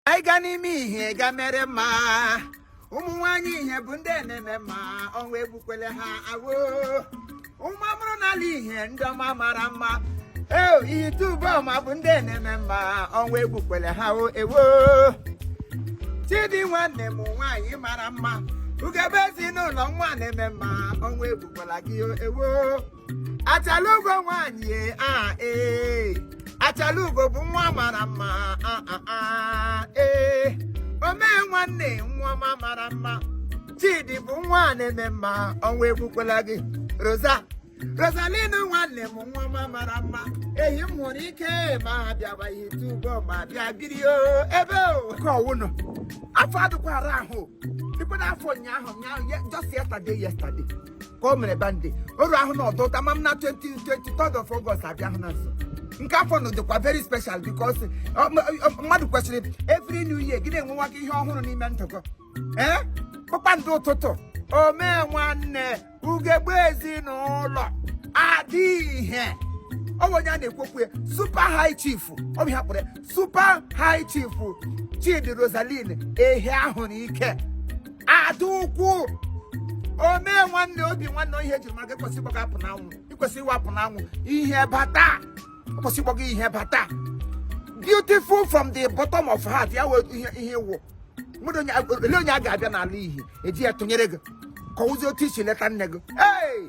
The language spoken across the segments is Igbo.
anyị ga n'ime ihe ga mere mma ụmụ nwaanyị ihe bụ ndị na-eme mma ọnwụ egbukwele ha ewo ụmụ amụrụ n'ala ihe ndị ọma mara mma ee ihite uboma bụ ndị na-eme mma ọnwụ egbukwele ha o ewo chidi nwanne m nwaanyị mara mma ugegbe ezinụlọ nwa na-eme mma ọnwụ egbukwala gị o ewo achalugo nwanyị a ee achalugo bụ nwa mara mma a a a ee omee nwanne nwa ọma mara mma chidi bụ nwa na-eme mma ọnwụ egbukwala gị rosa rosaline nwanne m nwa ọma mara mma ehiahuruike ma ha bịawa ihite uboma bịa biri o ebe o nke ọwụnụ afọ adịkwara ahụ dịkwa n'afọ ụnyaahụ ụnyaahụ ye- just yesterday yesterday ka o mere birthday oru ahụ na ọdụta ma m na 23rd of August abịa ahụ na nso nke afọ na dịkwa very special because ọ- m- ọ- mmadụ kwesịrị every new year gị na-enwewa gị ihe ọhụrụ n'ime ndụ gị ee kpakpando ụtụtụ omee nwanne ugegbe ezinụlọ adị ihe ọ bụ onye a na-ekwu okwu ya super high chief ọ bụ ihe a kpọrọ ya super high chief chidi rosaline ehiahuruike ada ukwu omee nwanne obi nwanne ihe ejiri maka ịkwesị ịgbaga apụ n'anwụ ịkwesị ịwapụ n'anwụ ihe bata ịkwesị ịgbaga ihe bata beautiful from the bottom of heart ya wee ihe ihe wụ mmadụ onye a- ole onye a ga-abịa n'ala ihi eji ya tụnyere gị ka ọ wụzi otu i si leta nne gị ee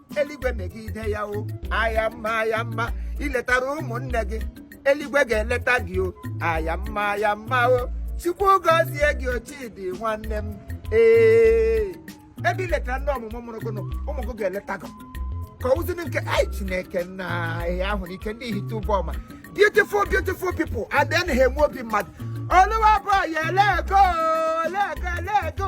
eluigwe megide ya o aya mma aya mma iletara ụmụnne gị eluigwe ga-eleta gị o aya mma aya mma o chukwu gọzie gị o chidi nwanne m ee ebe iletara ndị ọmụmụ mụrụ gị nụ, ụmụ gị ga-eleta gị ka ụzụnụ nke ai chineke nna ehiahuruike ndị ihite uboma beautiful beautiful people and then ha enwe obi mmadụ oluwa bụ ya elego elego elego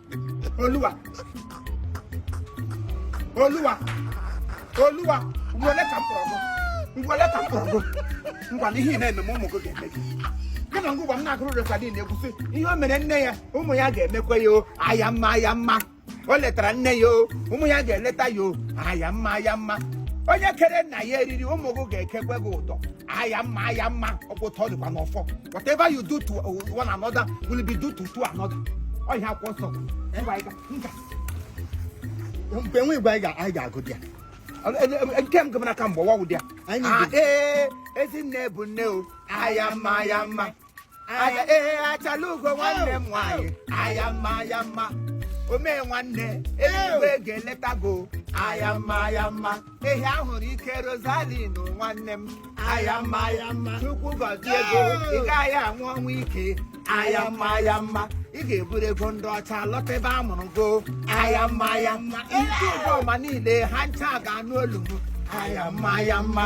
Oluwa. Oluwa. Oluwa. Ngwele ka m kpọrọ gụ. Ngwele ka m kpọrọ gụ. Ngwa na ihe ị na-eme ma ụmụ gị ga-eme gị. Gị na ngwa m na-agụrụ Rosaline egwu sị ihe o mere nne ya ụmụ ya ga-emekwa ya o aya mma aya mma. O letara nne ya o ụmụ ya ga-eleta ya o aya mma aya mma. Onye kere nna ya eriri ụmụ gị ga-ekekwe gị ụdọ. aya mma aya mma ọkwa otu ọ dịkwa n'ọfọ whatever you do to uh, one another will be do to to another ọhịa akwụkwọ nsọ mgbe nwe igwe anyị ga-agụ dị ya nke m gụmara ka mgbe ọwa wụ dị ya ee ezinne bụ nne o aya mma aya mma Aya ee achala ugo nwanne m nwaanyị aya mma aya mma omee nwanne eluigwe ga-eleta go aya mma aya mma ehi a hụrụ ike Rosalin nwanne m aya mma aya mma Chukwu gọzie go ị gaghị anwụ ọnwụ ike aya mma aya mma ị ga-eburu ego ndị ọcha lọta ebe a mụrụ go aya mma aya mma ndị ụgbọ ọma niile ha ncha ga-anụ olu m aya mma aya mma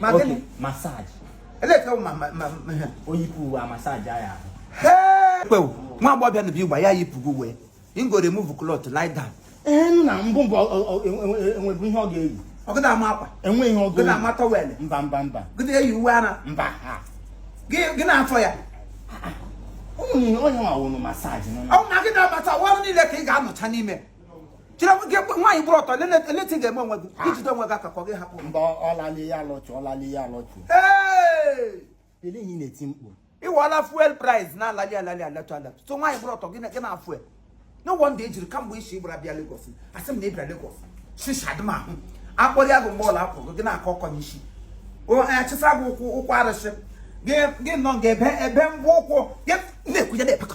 Okay, massage. Eleta ma ma ma oyipu wa massage ya. Hey! Kwe nwa agbọbịa na bi gba ya yipugo uwe. Im go remove cloth lie down. Eh nna mbụ mbụ enwebu ihe ọ ga-eyi. Ọ gị na-ama akwa. Enwe ihe ọ ga-eyi. Gị na-ama tọwel. Mba mba mba. Gị na-eyi uwe ara. Mba. Gị na-afọ ya. Onye onye nwa wụ nụ massage. Ọ na gị na-abata ọrụ niile ka ị ga-anọcha n'ime. chere nwoke nwaanyị bụrụ ọtọ eleti ga-eme onwe gị ijide onwe gị aka ka ọ gị hapụ mba ọlali ya alọchụ ọlali ya alọchụ ele ihe na-eti mkpu ị wụla fuel price na-alali alali alatu alatu so nwaanyị bụrụ ọtọ gị na fuel no wonder e jiri kamgbe i si gbara bịa Lagos asị m na ị bịa Lagos shishadị m ahụ akpọrọ ya gụ mgbe ọla akwụrụ gị na-akọ ọkọ n'isi achịsa gị ụkwụ ụkwụ arụsị gị nọ ga ebe ebe ngwa ụkwụ gị na-ekwunye na-epekọ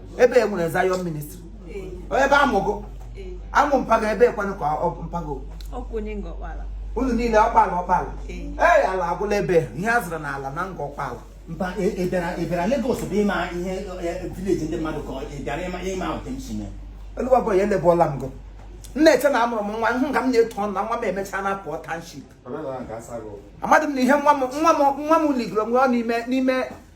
ebe e nwere Zion ministry ebe a mụ gị a mụ mpa gị ebe ekwanụ ka mpa go unu niile ọkpala ọkpala ee ala agwụla ebe ihe a zụrụ n'ala na Ngor Okpala ị bịara Lagos bụ ịma ihe village ndị mmadụ ka ị bịara ịma otemsime Oluwa boy elebụọla m gụ m na-eche na amụrụ m nwa hụ ka m na-eto ọnụ na nwa m emechaa na pụọ township amadị m na ihe nwa m nwa m nwa m ligoro nwa n'ime n'ime